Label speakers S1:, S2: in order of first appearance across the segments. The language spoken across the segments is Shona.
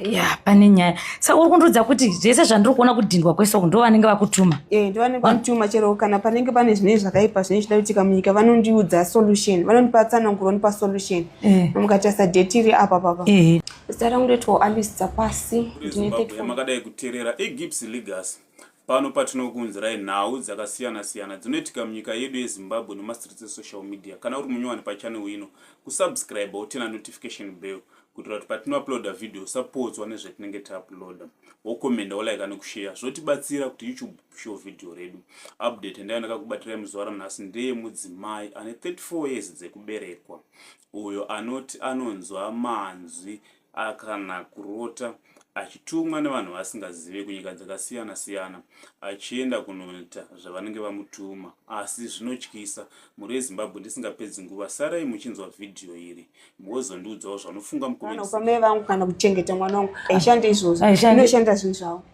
S1: ya pane nyaya saka uri kundiudza kuti zvese zvandiri kuona kudhindwa kwese uku ndo vanenge vakutuma eh, ndo vanenge vakutuma
S2: chero kana panenge pane zvinei zvakaipa zvinei zvida kuitika munyika vanondiudza solution vanondipa tsananguro vanopa solution eh. mukati asadhetiri apa papa eh. zita rangu ndoitwa alice dzapasi ndine makadai kuterera
S3: egips legacy Pano patinokuunzirai nhau dzakasiyana siyana dzinoitika munyika yedu yeZimbabwe nemastreets esocial media. Kana uri munyowani pachannel ino, kusubscriber wotina notification bell kuitira kuti patinouploada video usapodzwa nezvetinenge tauploada wokomenda wolaika nekusheya zvotibatsira kuti youtube show video redu update ndayo ndakakubatirai muzuva ranhasi ndeye mudzimai ane 34 years dzekuberekwa uyo anoti anonzwa manzwi kana kurota achitumwa nevanhu vasingazive kunyika dzakasiyana siyana achienda kunoita zvavanenge vamutuma asi zvinotyisa muri ezimbabwe ndisingapedzi nguva sarai muchinzwa vhidhiyo iri mozondiudzawo zvanofunga mukomei vangu kana kuchengeta
S2: mwana wangu aishanda izvozvo inoshanda zvinhu zvavo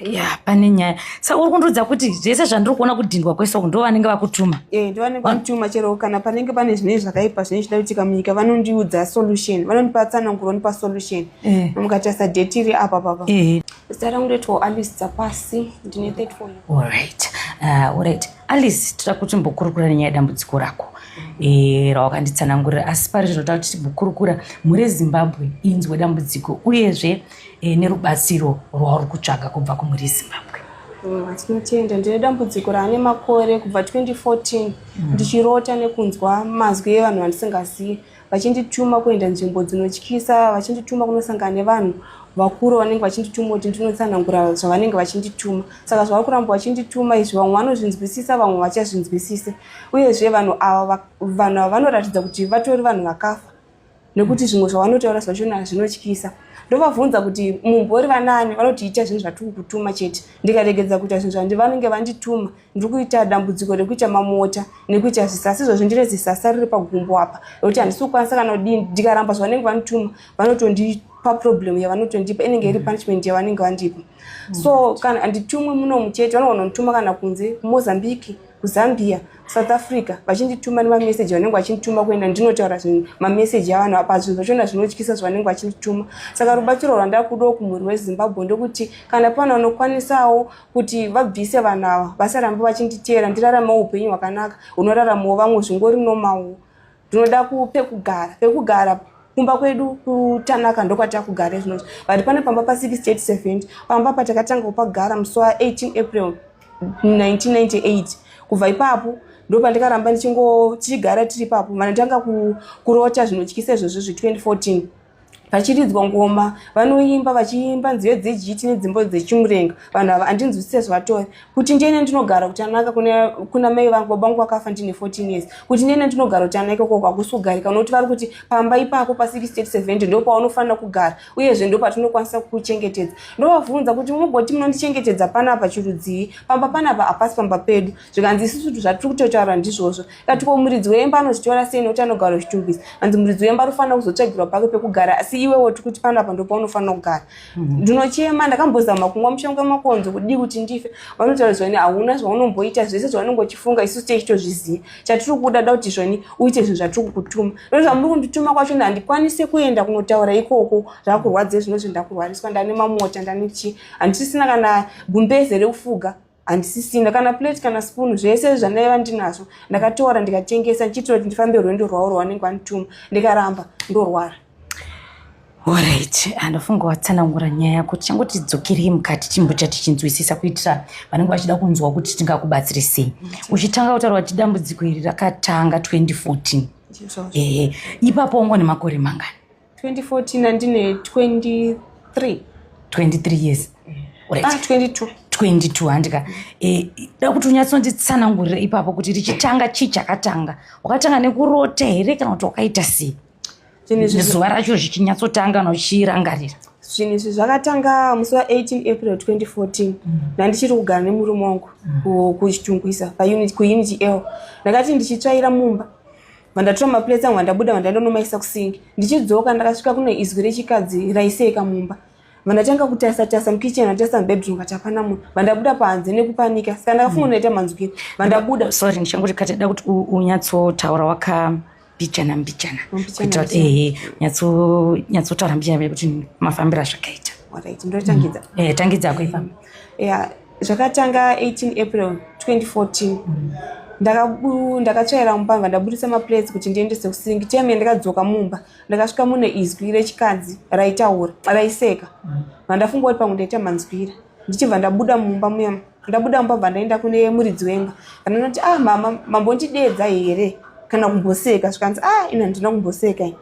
S1: ya pane nyaya sa uri kundiudza kuti zvese zvandiri kuona kudhindwa kwese uku ndo vanenge vakutuma eh, ndo vanenge vakutuma
S2: chero kana panenge pane zvinei zvakaipa zvinei zvida kuitika munyika vanondiudza solution vanondipa tsananguro vanopa solution eh. mukatarisa date iri apa papa eh. zita rangu ndoitwa alice dzapasi ndine 34 allright allright
S1: alice tira kuti mbokurukura nenyaya dambudziko rako Eh, rawakanditsanangurira asi pari zvinotaura kuti tibukurukura mhuri yezimbabwe inzwe dambudziko uyezve e, nerubatsiro rwauri kutsvaga kubva kumhuri yezimbabwe mm, tinotenda
S2: ndine dambudziko raane makore kubva 2014 mm. ndichirota nekunzwa mazwi evanhu vandisingazivi vachindituma kuenda nzvimbo dzinotyisa vachindituma kunosangana nevanhu vakuru vanenge vachindituma kuti ndinotsanangura zvavanenge vachindituma saka zvavari kuramba vachindituma izvi vamwe vanozvinzwisisa vamwe vachazvinzwisise uyezve vanhu ava vanhu ava vanoratidza kuti vatori vanhu vakafa nekuti zvimwe zvavanotaura zvachona hazvinotyisa ndovabvunza kuti mumbori vanani vanoti ita zvinhu zvatiri kutuma chete ndikaregedza kuita zvinhu zvandi vanenge vandituma ndiri kuita dambudziko rekuita mamota nekuita zvisasa izvozvi ndine zisasa riri pagumbo apa rekuti handisi kukwanisa kana kudini ndikaramba zvavanenge vandituma vanotondi paproblem yavanotondipa inenge iri punishment yavanenge vandipa so kana handitumwi munomu chete vanogona kundituma kana kunze kumozambique kuzambia south africa vachindituma nemameseji vanenge vachindituma kuenda ndinotaura zvinhu mameseji avanhu apa zvinhu zvachona zvinotyisa zvavanenge vachindituma saka rubatsiro rwandakudawo kumhuri wezimbabwe ndokuti kana pane vanokwanisawo kuti vabvise vanhu ava vasarambe vachinditeera ndiraramawo upenyu hwakanaka hunoraramawo vamwe zvingori nomawo Tinoda pekugara, pekugara kumba kwedu kutanaka ndokwatakugara izvinozi but pane pamba pa 6870 pamba patakatanga kupagara musi wa 18 april 1998 kubva ipapo ndopandikaramba ndichingo tichigara tiri ipapo mana tanga kurota zvinotyisa izvozvo zve 2014 vachiridzwa ngoma vanoimba vachiimba nziyo dzejiti nedzimbo dzechimurenga vanhu ava andinzwisise zvatove kuti ndiene ndinogara kutanaka kuna mai vangu baba vangu vakafa ndine 14 years kuti ndiene ndinogara kutanaka koko hakusi kugarika unokuti vari kuti pamba ipako pa670 ndo paunofanira kugara uyezve ndo patinokwanisa kukuchengetedza ndovavhunza kuti mugoti munondichengetedza panapa chirudzii pamba panapa hapasi pamba pedu zvikanzi isusu zvatiri kutotaura ndizvozvo Kati ko muridzi wemba anozvitora sei nokuti anogara uchitumbisa hanzi muridzi wemba anofanira kuzotsvagirwa pake pekugara asi iwewo tiri kuti panapa ndo paunofanira kugara mhm. ndinochema ndakambozama kumwa mushonga makonzo kudii kuti ndife vanotaura zvoni hauna zvaunomboita zvese zvaunenge uchifunga isu techitozviziva chatiri kuda da kuti zvoni uite zvinhu zvatiri kukutuma no zvamuri kundituma kwacho na handikwanise kuenda kunotaura ikoko zvakurwadze zvino zvindakurwariswa ndane mamota ndane chii handisisina kana gumbeze rekufuga handisisina kana plate kana spoon zvese zvandaiva ndinazvo ndakatora ndikatengesa ndichiitira kuti ndifambe rwendo rwavo rwavanenge vandituma ndikaramba ndorwara
S1: orit andofunga watsanangura nyaya yako tichango tidzokerei mukati timbocha tichinzwisisa kuitira vanenge vachida kunzwa kuti tingakubatsiri sei uchitanga kutaura kuti dambudziko iri rakatanga 2014 ehe ipapo wango nemakore mangani 2014
S2: andine 23 23 years
S1: right. ah, 22 22
S2: handika e,
S1: da kuti unyatsonditsanangurira ipapo kuti richitanga chii chakatanga wakatanga nekurota here kana kuti wakaita sei zuva racho zvichinyatsotanga nochirangarira zvinhu izvi
S2: zvakatanga musi wa18 april 2014 nandichiri mm. kugara nemurume wangu mm. kuchitungwisa kuunity l ndakati ndichitsvaira mumba vandatora maplates angu vandabuda vandaenda nomaisa kusingi ndichidzoka ndakasvika kuno izwi rechikadzi raiseeka mumba vandatanga kutarisa tarisa mukitchen vandatarisa mubedroom vati hapana munhu vandabuda panze nekupanika saka ndakafunga ndaita manzwini vandabuda sorry ndichangoti kati
S1: da kuti unyatsotaura waka mbijana mbijana kuitira kuti ehe nyatsotaura mbijana kuti mafambiro azvakaita mm.
S2: eh, tangidza kuifamba
S1: zvakatanga
S2: 18 april 2014 ndakabu ndakatsvaira mumbavha ndabudisa maplates kuti ndiendese kusingi time yandakadzoka mumba ndakasvika mune izwi rechikadzi raitaura raiseka vandafunga kuti pamwe ndaita manzwira ndichibva ndabuda mumba muya ndabuda mumba bva ndaenda kune muridzi wemba vananoti ah mama mambondideedza here kana kumboseka zvikanzi ah ino handina kumboseka i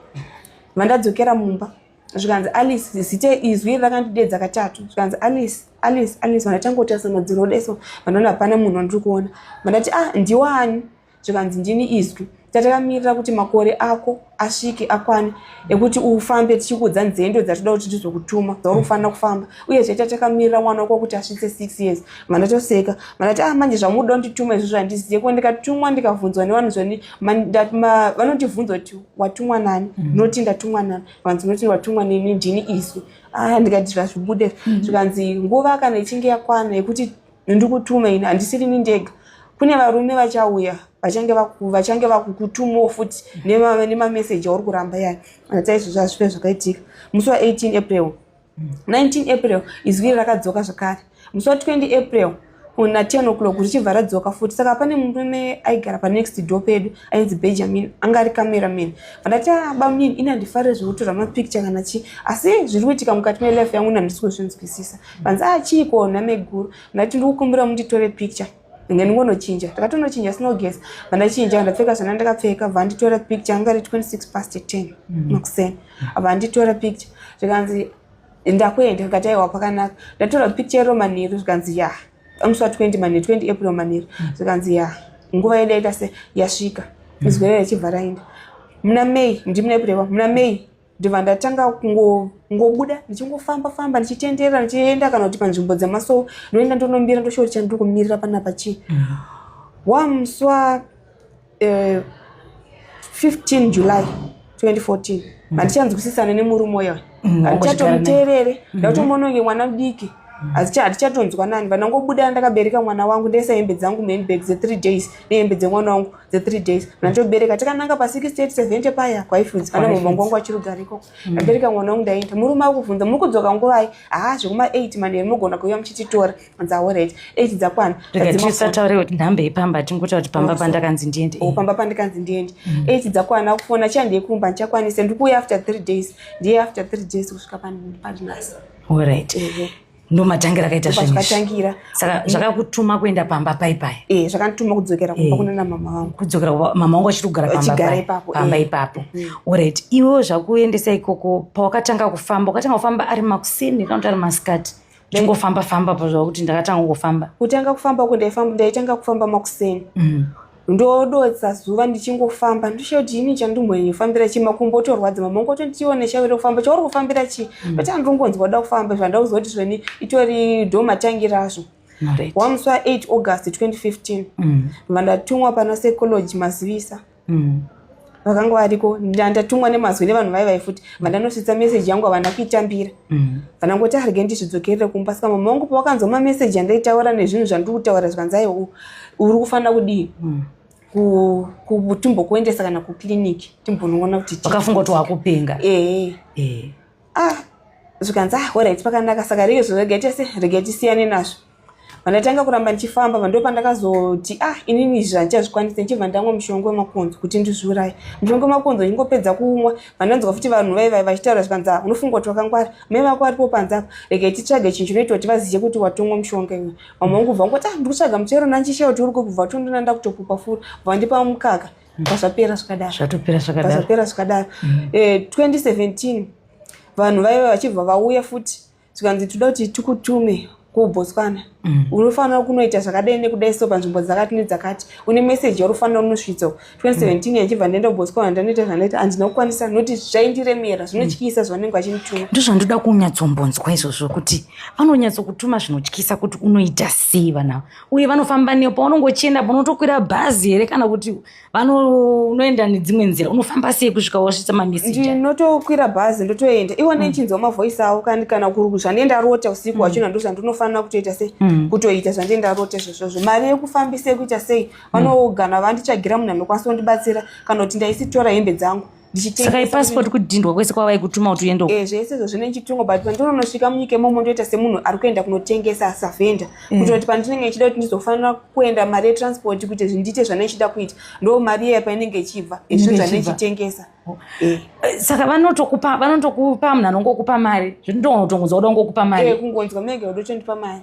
S2: vandadzokera mumba zvikanzi alice zita izwi iri rakandidedza katatu zvikanzi alice alice alice vandatangotarisa madziro odeso vandaona hapana munhu wandiri kuona vandati ah ndiwani zvikanzi ndini izwi tatakamirira kuti makore ako asvike akwane ekuti ufambe tichikuudza nzendo dzatoda kuti tizokutuma dzauri kufanira kufamba uye zvaita takamirira mwana wako kuti asvitse six years mandatoseka mandati a ah, manje zvamuda kundituma izvo zvandizive ko ndikatumwa ndikavhunzwa nevanhu zvani vanondivhunza kuti watumwa nani mm. noti ndatumwa nani vanzi noti watumwa nini ndini isu aa ah, ndikati zvazvibude mm. zvikanzi nguva kana ichinge yakwana yekuti ndikutuma ini handisiri ni ndega kune varume vachauya vachange vachange vakukutumawo futi nemameseji auri kuramba yayo atai zvazvive zvakaitika musi wa 18 april 19 april izwi iri rakadzoka zvakare musi wa 20 april na 10 o'clock richibva radzoka futi saka pane murume aigara panext door pedu ainzi benjamin anga ari cameraman vandati ah, bamunini ini handifarire zvekutora mapicture kana chii asi zviri kuitika mukati melife yangu nandisi kuzvinzwisisa vanzi achii ah, kuona meguru ndati ndikukumbira munditore picture then ngonochinja takatonochinja snow gas vandachinja vandapfeka zvana ndakapfeka vanditora picture anga ri 26 past 10 mm. makuseni vanditora picture zvikanzi ndakuenda ndikati aiwa pakanaka ndatora picture yeroman yedu zvikanzi ya amuswa 20 mani 20 april maniri mm. zvikanzi ya nguva yedu yaita se yasvika mm. izwerere chibva raenda muna may ndimuna april muna may ndibva ndatanga kungobuda ndichingofamba famba ndichitenderera ndichienda kana kuti panzvimbo dzemaso ndoenda ndonombira ndoshori chandiri kumirira panapa chii mm. wamuswa 15 eh, july 2014 mm. handichanzwisisana nemurume uya mm, handichatomuteerere mm-hmm. ndatomononge mwana mudiki mm. handichatonzwa nani vanangobuda ndakabereka mwana wangu ndese hembe dzangu muhandbag dze3 days nehembe dzemwana wangu the three days mm. nandobereka takananga pa 6870 paya kwaifunzi kana mumwangu wangu achirugara ikoko mm. ndabereka mwana wangu ndaenda murume akubvunza muri kudzoka nguvai haa zvekuma 8 manheru mogona kuuya muchititora anzi aoret 8 dzakwana tisataure kuti
S1: nhambe yepamba tingotaura kuti pamba pandakanzi ndiende oh, pamba pandakanzi
S2: ndiende 8 mm. dzakwana akufona chandei kumba ndichakwanisa ndikuuya after three days ndiye after three days kusvika pandinasa orit
S1: mm-hmm. ndomatangi rakaita zvazvakatangira saka
S2: zvakakutuma
S1: kuenda pamba pai pai e zvakandituma kudzokera kumba
S2: eh. kuna namama vangu kudzokera mama wangu
S1: achiri kugara pamba eh. ipapo mm. orit iwewo zvakuendesa ikoko pawakatanga kufamba ukatanga kufamba ari makuseni kana kuti ari masikati chingofamba famba pazvakuti ndakatanga kufamba kutanga kufamba uko
S2: ndaifamba ndaitanga kufamba makuseni mm. ndodotsa zuva ndichingofamba ndoshayo kuti ini chandimhonyofambira chii makumbo otorwadza mama ngo totione shairo kufamba chauri kufambira chii mm. but andongonzwa kuda kufamba zvandauziva kuti zveni itori dhomatangi razvo wamuswa 8 august 2015 mm. vandatumwa pana psychology mazivisa mm. vakanga variko ndandatumwa nemazwi nevanhu vai vai futi vandanosvitsa meseji yangu havana kuitambira mm. vanangoti arege ndizvidzokerere kumba saka mama vangu pavakanzwa mameseji andaitaura nezvinhu zvandiri kutaura zvikanzai uri kufanira kudii mm kutumbo kuendesa kana kuclinic timbonongona kuti vakafunga kuti wakupenga
S1: ee eh, ee eh. ah
S2: zvikanzi ah horit pakanaka saka rege zvo rega tese rega tisiyane nazvo vandakatanga kuramba ndichifamba vando pandakazoti ah inini izvi handichazvikwanisa ndichibva ndamwa mushonga wemakonzo kuti ndizviuraye mushonga wemakonzo ndingopedza kuumwa vandanzwa futi vanhu vai vai vachitaura zvikanzi ah unofunga kuti wakangwara mai vako varipo panze apo rega titsvage chinhu chinoita kuti vazive kuti watomwa mushonga iwe mamwe vangu bva ngoti ah ndiri kutsvaga muchero nanchishaya kuti uri kubva tondona ndakutopupa furi bva ndipa mukaka pazvapera zvakadaro zvatopera zvakadaro pazvapera zvakadaro mm. eh, 2017 vanhu vaive vachibva vauya futi zvikanzi toda kuti tikutume kubotswana mm. unofanira kunoita zvakadai nekudai so panzvimbo dzakati nedzakati une meseji yaunofanira unosvitsa 2017 mm. yachibva ndaenda kubotswana ndanoita zvandanoita handina kukwanisa nokuti zvaindiremera zvinotyisa mm. zvavanenge vachindituma ndo zvandoda
S1: kunyatsombonzwa izvozvo kuti vanonyatsokutuma zvinotyisa kuti unoita sei vana uye vanofamba neyo paunonge uchienda unotokwira bhazi here kana kuti unoenda nedzimwe nzira unofamba sei kusvika wasvitsa mameseji ndinotokwira bhazi
S2: ndotoenda iwo ndichinzwa mm. mavoisi avo kandi kana zvandiye ndarota usiku mm. wachona ndo zvandinofanira kutoita sei mm. kutoita zvandiye ndarota zvesvozvo mari yekufambisa yekuita sei vanogana vanditsvagira munhu anokwanisa kundibatsira kana kuti ndaisitora hembe dzangu saka ipasipoti
S1: kudhindwa kwese kwavaikutuma kuti uende eh, zvese izvo zvine chitungo
S2: but pandinonosvika munyika imomo ndoita semunhu ari kuenda kunotengesa savhenda eh. kuita kuti pandinenge ichida kuti ndizofanira kuenda mari yetransport kuti zvindiite zvane ichida kuita ndo mari iya painenge ichibva izvo zvane ichitengesa oh. eh.
S1: saka vanotokupa vanotokupa munhu anongokupa mari zvindotongonzwa kuda kungokupa mari kungonzwa munenge udotondipa
S2: mari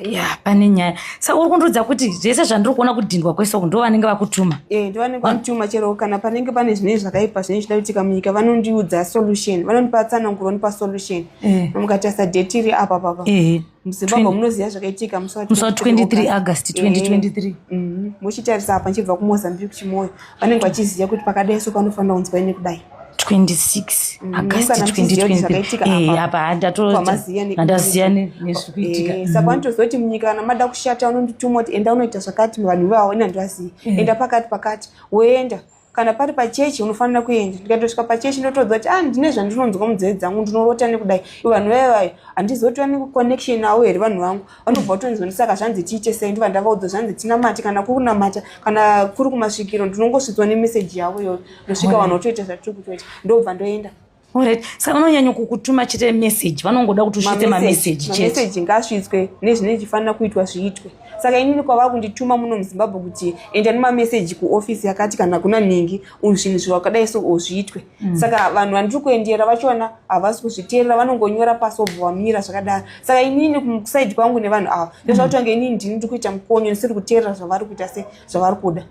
S1: ya pane nyaya saka uri kundiudza kuti zvese zvandiri kuona kudhindwa kwese uku ndo vanenge vakutuma eh, ndo vanenge vanotuma
S2: chero kana panenge pane zvinei zvakaipa zvinei zvida kuitika munyika vanondiudza solution vanondipa tsananguro vanopa solution eh. amukatarisa date iri apa papa eh. muzimbabwe munoziva zvakaitika musi wa 23 august 2023
S1: mhm. muchitarisa
S2: apa ndichibva kumozambique chimoyo vanenge vachiziva kuti pakadai so panofanira kunzwa ine kudai 26
S1: agasti 2020 apa handatoziyani nezviri kuitika eh, saka vanotozoti mm.
S2: munyika kana mada kushata vanondituma kuti enda unoita zvakati vanhu vaona ndivazivi eh. enda pakati pakati woenda kana pari pachechi unofanira kuenda ndikatosvika pachechi ndotodza kuti ah ndine zvandinonzwa munzeve dzangu ndinorota nekudai vanhu vaye vaye handizotiwa nekuconnection navo here vanhu vangu vanobva vatonzwa ndisaka zvanzi tiite sei ndiva ndavaudza zvanzi tinamate kana kuri kunamata kana kuri kumasvikiro ndinongosvidzwa nemeseji yavo iyoyo ndosvika vanhu votoita zvatiri kutoita ndobva ndoenda Alright. Saka
S1: vanonyanya kukutuma chete message, vanongoda kuti usvitse mameseji chete. Mameseji ngaasvitswe
S2: nezvine zvichifanira kuitwa zviitwe. Saka inini kwava kundituma muno muZimbabwe kuti enda nemameseji kuofisi yakati kana kuna nhingi zvinhu zvakadai so zviitwe. Mm. saka vanhu vandiri kuendera vachona havasi kuzviteerera vanongonyora pasi wobva wamira zvakadaro saka inini kusaidi kwangu nevanhu ava ndozvakuti wange inini ndini ndiri kuita mukonyo ndisiri kuteerera zvavari kuita se zvavari kuda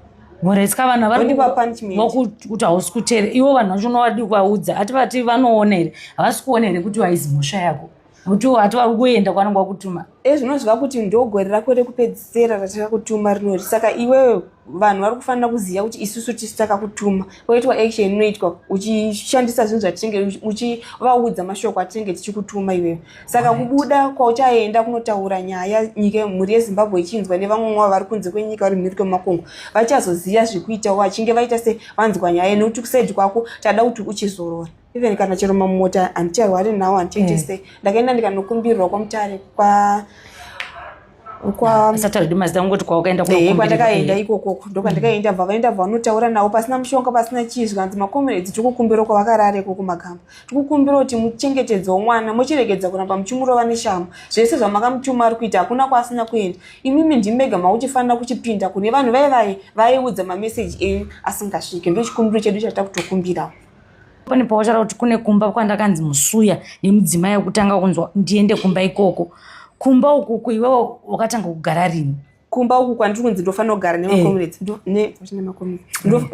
S2: muretsika vanhu
S1: avarivakuti hausi kuteerera ivo vanhu vacho unowadii kuvaudza ati vati vanoona here havasi kuona here kuti waizi mhosva yako mutuwo hati wari kuenda kwanenge wakutuma e zvinoziva kuti
S2: ndogore rako rekupedzisera ratakakutuma rinori saka iwewe vanhu vari kufanira kuziva kuti isusu tisu takakutuma woitwa action inoitwa uchishandisa zvinhu zvatinenge uchivaudza mashoko atinenge tichikutuma iwewe saka kubuda kwauchaenda kunotaura nyaya nyika mhuri yezimbabwe ichinzwa nevamwe mwavo vari kunze kwenyika vari mhiri kwemakongo vachazoziva zvekuitawo vachinge vaita se vanzwa nyaya nekuti kusaidi kwako tada kuti uchizorora even kana chero mamota handicharwari nawo handichaite eh. sei ndakaenda ndikanokumbirwa kwamutare
S1: kwa kwandakaenda ikokoko
S2: ndokwandakaenda bva vaenda bva vanotaura navo pasina mushonga pasina chii zvikanzi makomereds tiri kukumbira uko vakarare ko kumakamba tiri kukumbira kuti muchengetedze womwana mochiregedza kuramba muchimurova neshamo zvese zvamakamutuma ari kuita hakuna kwaasina kuenda imimi ndimega makuchifanira kuchipinda kune vanhu vaye vaye vaiudza mameseji enyu asingasvike ndochikumbiro chedu chatakutokumbirawo pane pautaura
S1: kuti kune kumba kwandakanzi musuya nemudzimai wekutanga kunzwa ndiende kumba ikoko kumba ukuku iwewo wakatanga kugara rini kumba uku kwandiri
S2: kunzi ndofanira kugara nemacomrades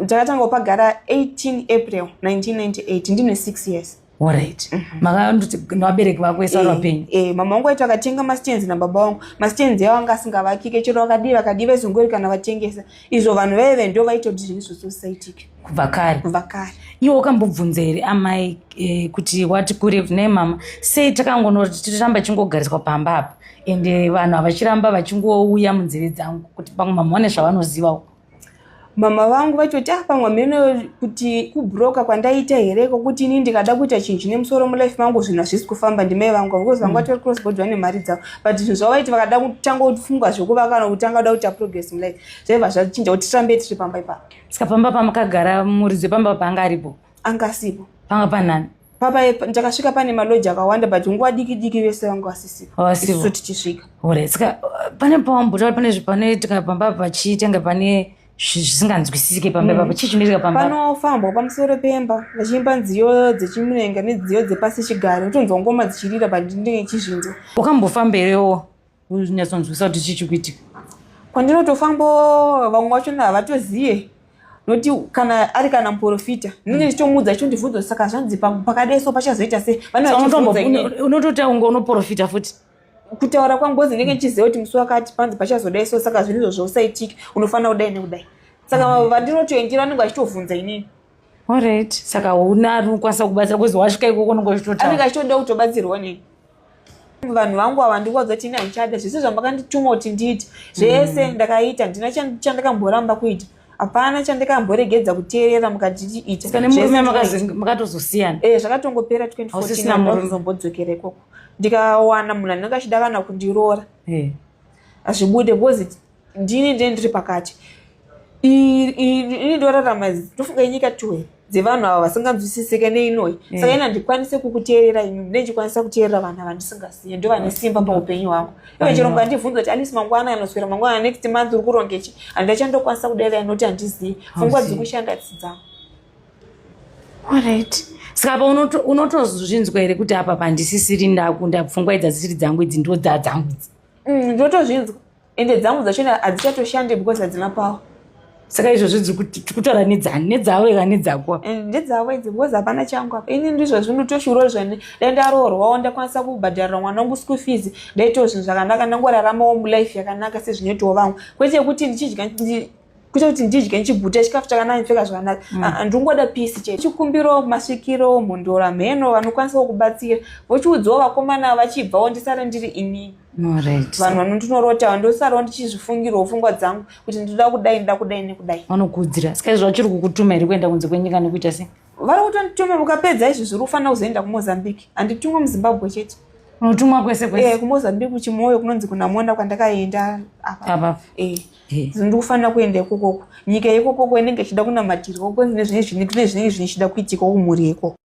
S2: ndakatanga kupagara 18 april 1998 ndine 6 years orit mhm.
S1: makandoti nevabereki vako ese vari eh, vapenyu eh, mama vangu vaiti vakatenga
S2: mastenzi nababa vangu mastenzi avo anga asingavakike chero vakadii vakadii vaizongori kana vatengesa izvo vanhu vaive ndo vaitoti zvinhu zvososaitike kubva kare kubva
S1: kare iwe
S2: ukambobvunza here
S1: amai eh, kuti wati kure ne mama sei takangonoti tiramba chingogariswa pamba apa ende eh, vanhu havachiramba vachingouya munzeve dzangu kuti pamwe mama vane zvavanozivawo mama
S2: vangu vachoti ah pamwe hameno kuti kubroka kwandaita here kokuti ini ndikada kuita chinhu chine musoro mulife mangu zvinhu hazvisi kufamba ndimai vangu vaukozi vanga mm. tori crossbord vane mari dzavo but zvinhu zvavaiti vakada kutanga kutifunga zvekuvaka kana kutanga kuda kuita progress mulife zvaibva zvachinja kuti tirambe tiri pamba ipapo saka pamba
S1: pamakagara muridzi wepamba paanga aripo anga asipo panga panani papa
S2: ndakasvika pane maloji akawanda but nguva diki diki vese vanga vasisipoisu tichisvika ore saka
S1: pane pawambotaura pane zvepanoitika pamba pachitenga pane zvisinganzwisisike pamba ipapo mm. chii chinoitika pamba panofambwa pamusoro
S2: pemba vachiimba nziyo dzechimurenga nedziyo dzepasi chigare utonzwa ngoma dzichirira pandinenge chizvinzwa wakambofamba herewo
S1: unyatsonzwisa kuti chii chikuitika kwandinotofambo
S2: vamwe vacho havatozive nokuti kana ari kana muprofita ndinenge ndichitomuudza icho ndivhunzo saka zvanzi pakadeso pachazoita sei vanototaunga
S1: unoprofita futi kutaura kwangozi
S2: ndenge ndichiziva kuti musi wakati panzi pachazodai so saka zvinhu izvozvo usaitike unofanira kudai nekudai saka mm. vandinotoendera anenge achitovhunza inini orit
S1: saka una rinokwanisa kubatsira kwezi wasvika ikoko nongochitotaanenge achitoda kutobatsirwa
S2: nei vanhu vangu ava ndikuwadza kuti ini handichada zvese zvamakandituma kuti ndiite zvese mm. ndakaita ndina chandakamboramba kuita hapana chandakamboregedza kuteerera mukatiita zvese
S1: makatozosiyana eh, zvakatongopera 2014
S2: ndozombodzokera ikoko ndikawana munhu anenge achida kana kundiroora eh. hazvibude hey. because ndini ndine ndiri pakati ini ndorarama ndofunga inyika tuwe dzevanhu ava vasinganzwisisike neinoyi eh. saka ini handikwanise kukuteerera imi mune ndichikwanisa kuteerera vanhu ava ndisingasiye ndo vane simba paupenyu hwangu iwe chirombo andibvunza kuti alisi mangwana anoswera mangwana next month uri kurongechi handachandokwanisa kudaira inoti handizivi fungwa dziri kushanda dzidzangu
S1: Alright. Saka apa unotozvinzwa unoto here kuti apa pandisisiri ndakunda pfungwa idzi dzisiri dzangu idzi ndo dza dzangu idzi. Mm, ndotozvinzwa.
S2: Ende dzangu dzacho hadzichatoshandei because hadzina power. Saka izvo zvidzi
S1: kuti tikutaura nedzani nedzawo eka nedzako apa. Mm, ndedzawo idzi because
S2: hapana changu apa. Ini ndizvo zvino toshuro zvane dai ndaroorwa ndakwanisa kubhadharira mwana wangu school fees ndaitowo zvinhu zvakanaka ndangoraramawo life yakanaka sezvinoitawo vamwe. Kwete kuti ndichidya kuita kuti ndidye ndichiguta chikafu chakanaka ndipfeka zvakanaka mm. ah, ah, ndingoda pisi chete chikumbiro masvikiro mhondora mheno vanokwanisa kukubatsira vochiudzawo vakomana vachibvawo ndisare ndiri ini vanhu vanondinorotawo ndosarawo ndichizvifungirwo pfungwa dzangu kuti ndinoda kudai ndoda kudai nekudai vanokuudzira saka izvo
S1: vachiri kukutuma here kuenda kunze kwenyika nekuita sei vari kutondituma
S2: mukapedza izvi zviri kufanira kuzoenda kumozambique handitumwa muzimbabwe chete unotumwa kwese
S1: kwese eh, kumozambique kuchimoyo
S2: kunonzi kunamona kwandakaenda apa apa eh. ndikufanira kuenda ikokoko nyika yekokoko inenge ichida kunamatirwa kune zvinenge zvichida kuitika kumhuri yekoko